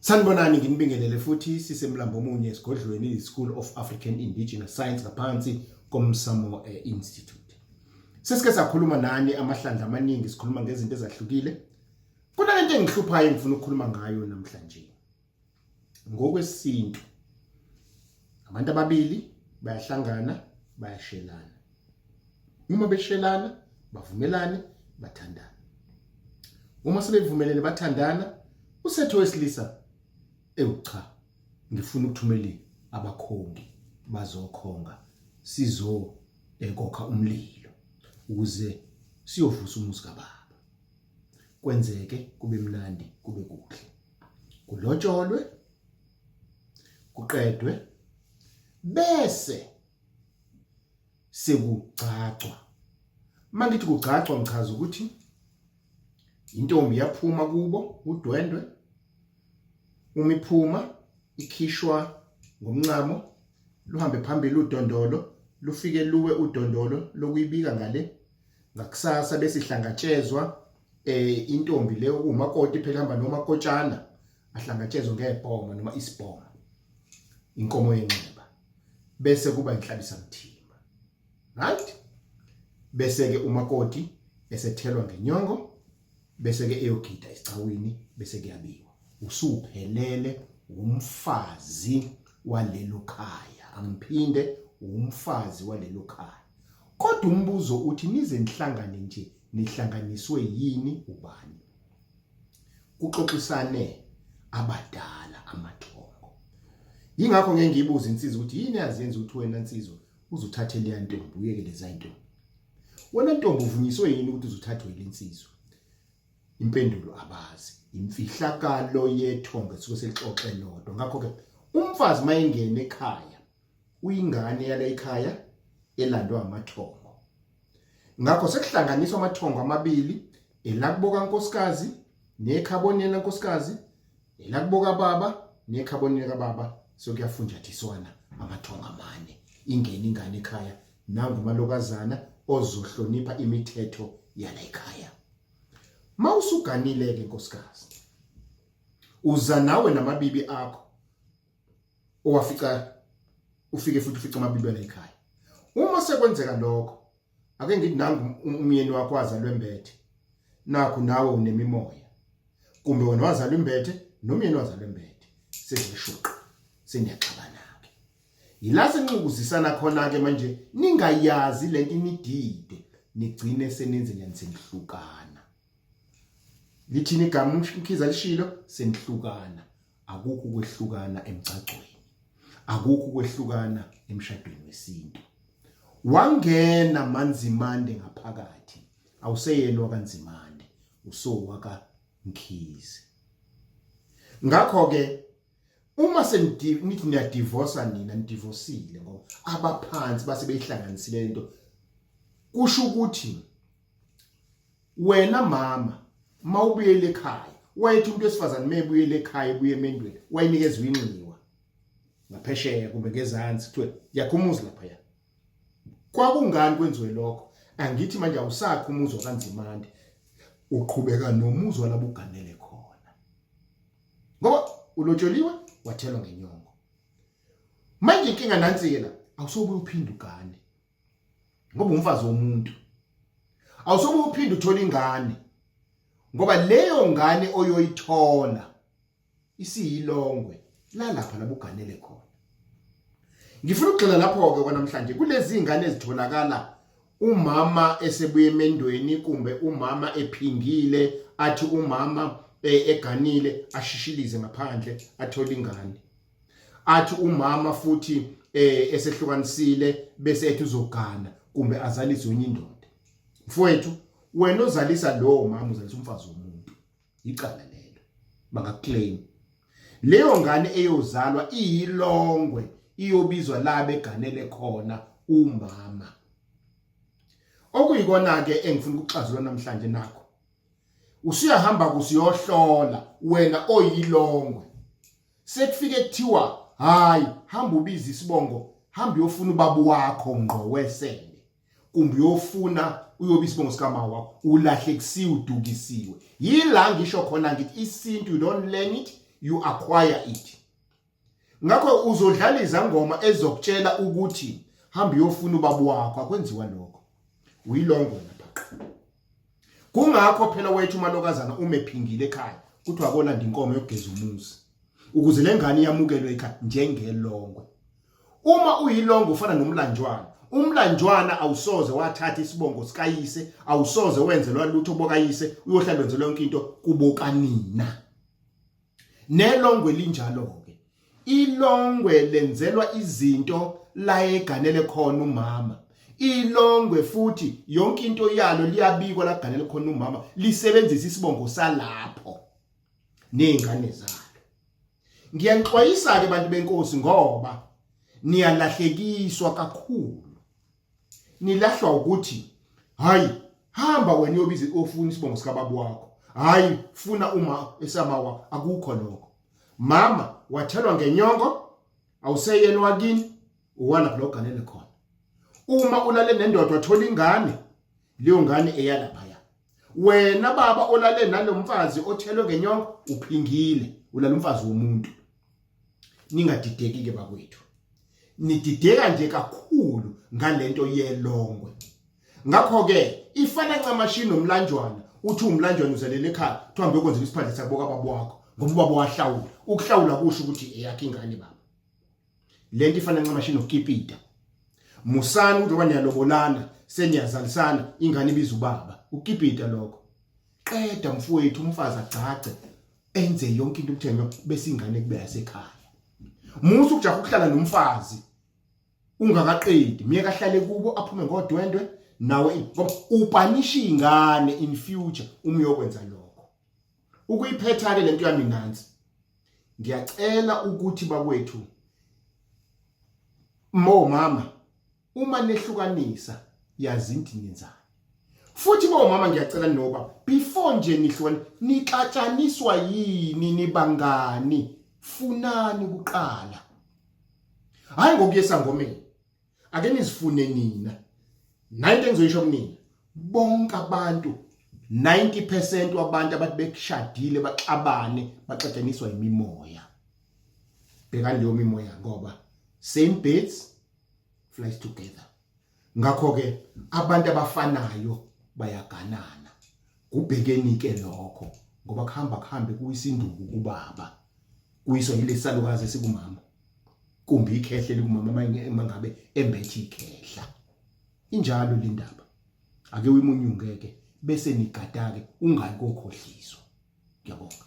Sanibonani nginibingelele futhi sisemlambo omunye esigodlweni iSchool of African Indigenous Science ngaphansi komsamo eh, Institute. Sesike sakhuluma nani amahlandla amaningi sikhuluma ngezinto ezahlukile. Kuna lento engihluphayo engifuna ukukhuluma ngayo namhlanje. Ngokwesintu abantu ababili bayahlangana bayashelana uma beshelana bavumelane bathandana uma sebevumelene bathandana usetho wesilisa ewu cha ngifuna ukuthumela abakhongi bazokhonga sizo ekokha umlilo ukuze siyovusa umuzi kababa kwenzeke kube mnandi kube kuhle kulotsholwe kuqedwe bese sekugcagcwa mangithi kugcagcwa ngichaza ukuthi intombi yaphuma kubo udwendwe uma iphuma ikhishwa ngomncamo luhambe phambili udondolo lufike luwe udondolo lokuyibika ngale ngakusasa besihlangatshezwa eh intombi le okumakoti phela hamba noma kotshana ahlangatshezwe ngebhoma noma isibhoma inkomo yenxeba bese kuba inhlabisa mthimba right bese ke umakoti esethelwa ngenyongo bese ke eyogida isicawini bese kuyabiwa usuphelele umfazi walelo khaya angiphinde umfazi walelo khaya kodwa umbuzo uthi nize nihlangane nje nihlanganiswe yini ubani kuxoxisane abadala amathongo yingakho ngeke ngibuze insizwa ukuthi yini yazenza ukuthi wena insizwa uzuthathe leya ntombi uyeke leza ntombi wena ntombi uvunyiswe yini ukuthi uzuthathwe yile nsizwa impendulo abazi imfihlakalo yethonga suke selixoxe lodwa ngakho ke umfazi mayengena ekhaya uyingane yale ekhaya elandwa amathongo Ngakho sekuhlanganiswa amathongo amabili elakubo kankosikazi nekhabonela nkosikazi elakubo kababa nekhabonela kababa sokuyafunjathiswana amathongo amane ingene ingane ekhaya nangu malokazana ozohlonipha imithetho yala ekhaya mawusuganile ke nkosikazi uza nawe namabibi akho owafica ufike futhi ufica amabintwana ekhaya uma sekwenzeka lokho ake ngithi nangu um-, umyeni wakho wazalwe mbethe nakho nawe unemimoya kumbe wena wazalwe mbethe nomyeni wazalwe mbethe sezishuqa senyaxabana ke yila senxukuzisana khona ke manje ningayazi lento inidide nigcine senenze nyanise nihlukana lithini igama umkhiza lishilo senihlukana akukho ukwehlukana emgcagcweni akukho ukwehlukana emshadweni wesintu wangena manzimande ngaphakathi awuseyena wakanzimande usowaka mkhize ngakho ke uma senithi niyadivorsa nina nidivosile ngoba abaphansi base beyihlanganisile lento kusho ukuthi wena mama mawubuyele ekhaya wayethi umuntu wesifazane mebuyele ekhaya ebuye emendweni wayenikeza uyinxiwa ngaphesheya kumbe ngezansi kuthiwe yakho umuzi lapha ya kwakungani kwenziwe lokho angithi manje awusakho umuzi wakanzimande uqhubeka nomuzi walabo uganele khona ngoba ulotsholiwe wathelwa ngenyongo manje inkinga nansi ke la awusobuye uphinde ugane ngoba umfazi womuntu awusobe uphinde uthole ingane ngoba leyo ngane oyoyithola isiyilongwe lalapha labuganele khona ngifuna ukugxila lapho ke kwanamhlanje kulezi ingane ezitholakala umama esebuye emendweni kumbe umama ephingile athi umama eh, eganile ashishilize ngaphandle athole ingane athi umama futhi eh esehlukanisile bese ethi uzogana kumbe azalise wenye indoda mfowethu wena ozalisa lowo mama uzalisa umfazi womuntu icala lelo bangaclaim leyo ngane eyozalwa iyilongwe iyobizwa labe ganele khona umama okuyikona ke engifuna ukuxazula namhlanje nakho usuyahamba kusiyohlola wena oyilongwe sekufike kuthiwa hayi hamba ubiza isibongo hamba uyofuna ubaba wakho ngqo wesende kumbe uyofuna uyobe isibongo sikama wakho ulahlekisiwe udukisiwe yila ngisho khona ngithi isintu you don't learn it you acquire it ngakho uzodlala izangoma ezokutshela ukuthi hamba uyofuna ubaba wakho akwenziwa lokho uyilongo lapha kungakho phela wethu umalokazana umephingile ekhaya kuthiwa akolanda inkomo yokugeza umuzi ukuze le ngane yamukelwe ekhaya njengelongwe uma uyilongwe ufana nomlanjwana umlanjwana awusoze wathatha isibongo sikayise awusoze wenzelwa lutho bokayise uyohlala wenzelwa yonke into kubokanina nelongwe linjalo-ke ilongwe lenzelwa izinto la eganele khona umama ilongwe futhi yonke into yalo liyabikwa laganele khona umama lisebenzisa isibongo salapho nezingane zalo ngiyanixwayisa ke bantu benkosi ngoba niyalahlekiswa kakhulu nilahlwa ukuthi hayi hamba wena uyobiza ofuna isibongo sikababa wakho hayi funa uma esama wakho akukho lokho mama wathelwa ngenyongo awuseyena wakini uwalapha loganele khona uma ulale nendoda wathola ingane leyo ngane eyalaphaya wena baba olale nalomfazi othelwe ngenyongo uphingile ulala umfazi womuntu ningadideki ke bakwethu nidideka nje kakhulu ngalento yelongwe ngakho ke ifana ncamashi nomlanjwana uthi umlanjwana uzelele ekhaya kuthiwa mbe kwenzeka isiphandle sakuboka babo wakho ngoba ubaba wahlawula ukuhlawula kusho ukuthi eyakhe ingane baba lento ifana ncamashi nokipita musani ukuthi obanyalobolana seniyazalisana ingane ibiza ubaba ukipita lokho qeda mfowethu umfazi agcagce enze yonke into umthenyo bese ingane kube yasekhaya musa ukujaha ukuhlala nomfazi ungakaqedi myeka ahlale kubo aphume ngodwendwe nawe ngoba upanisha ingane in future umyokwenza lokho ukuyiphetha ke lento yami nansi ngiyacela ukuthi bakwethu mo mama uma nehlukanisa yazi into nenzani futhi bo mama ngiyacela noba before nje nihlukane nixatshaniswa yini nibangani funani kuqala hayi ngokuyesa ngomeni ake nizifune nina nayi into engizoyisho kunina bonke abantu 90% wabantu abathi bekushadile baxabane baxatshaniswa imimoya bhekani leyo mimoya ngoba same birds flies together ngakho ke abantu abafanayo bayaganana kubhekeni ke lokho ngoba kuhamba kuhambe kuyisinduku kubaba kuyiswa yilesalukazi sikumama kumbe ikhehle likumama uma ngabe embethe ikhehla injalo le ndaba ake uyimunyungeke bese nigadake ungayi kokhohliswa ngiyabonga